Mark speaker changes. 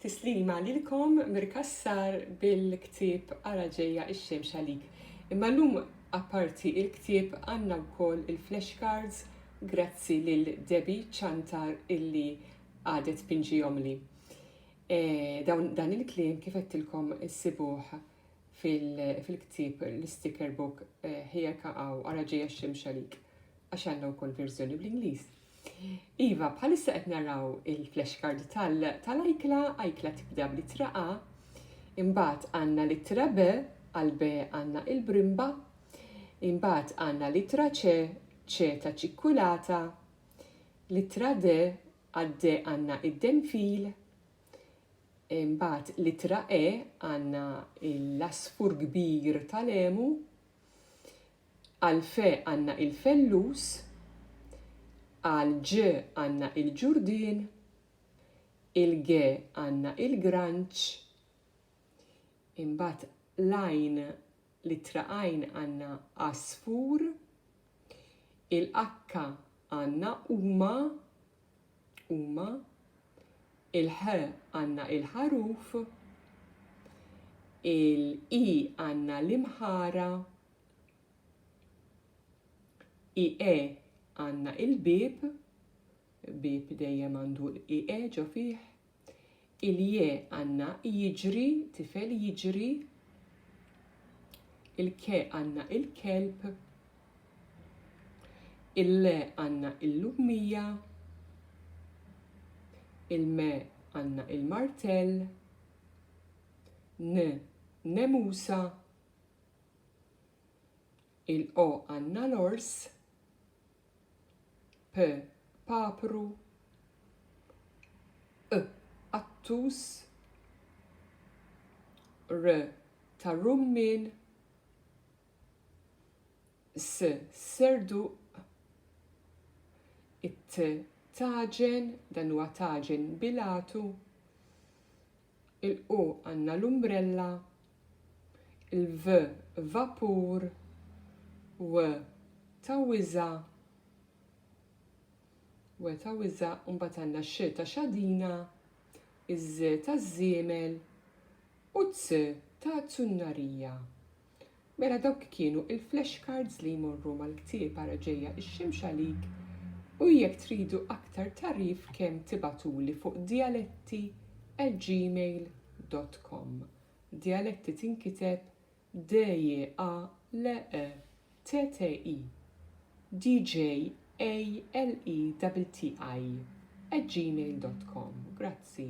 Speaker 1: Tislima lilkom Mir Cassar bil-ktieb Ara Ġejja x-Xemx Għalik. Imma llum apparti il-ktieb għandna wkoll il-flashcards grazzi lil Debbie Ciantar illi għadet tpinġihomli. E, dawn dan il-kliem kif għedtilkom issibuh fil-ktieb l-sticker book e, ħejja kaqgħu Ara Ġejja x-Xemx Għalik għax għandna wkoll verżjoni bl-Ingliż. Iva, bħalissa qed naraw il-flashcard tal-ajkla, ajkla tibda bl-ittra A, imbagħad għandna l-ittra B, għal B għandna il-brimba, imbagħad għandna l-ittra C, C ta' ċikkulata, l-ittra D, għad D għandna id-denfil, imbagħad l-ittra E għandna l-asfur kbir tal-emu, Għal fe għandna il-fellus, għal ġ għandna il-ġurdien, il-g għandna il-granċ, imbagħad l-għajn, l-ittra għajn għandna għasfur, il-akka għandna huma, huma, il-ħ għandna il-ħaruf, il-i għandna l-imħara, ie għandna il-bieb, bieb dejjem għandu l-ie ġo fih, Il-je għandna jiġri, tifel jiġri. Il-ke għandna il-kelb. Il-le għandna il-lummija. Il-me għandna il-martell. N nemusa. Il-qo għandna l-ors. p, papru q, qattus r, tar-rummien s, serduq it, tagħġen, dan huwa tagħġen bil-għatu. Il-q għandna l-umbrella. Il-v vapur. W ta' wiża'. W ta' wiża' u mbagħad għandna x ta' xadina, iż ta' żiemel u t ta' zunnarija. Mela dawk kienu il-flash cards li jmorru mal-ktieb ara ġejja x-xemx għalik u jekk tridu aktar tagħrif kemm tibgħatuli fuq dialetti at gmail dot com. Dialetti tinkiteb D J A L E T T I D J A L E T T I at gmail dot com. Grazzi.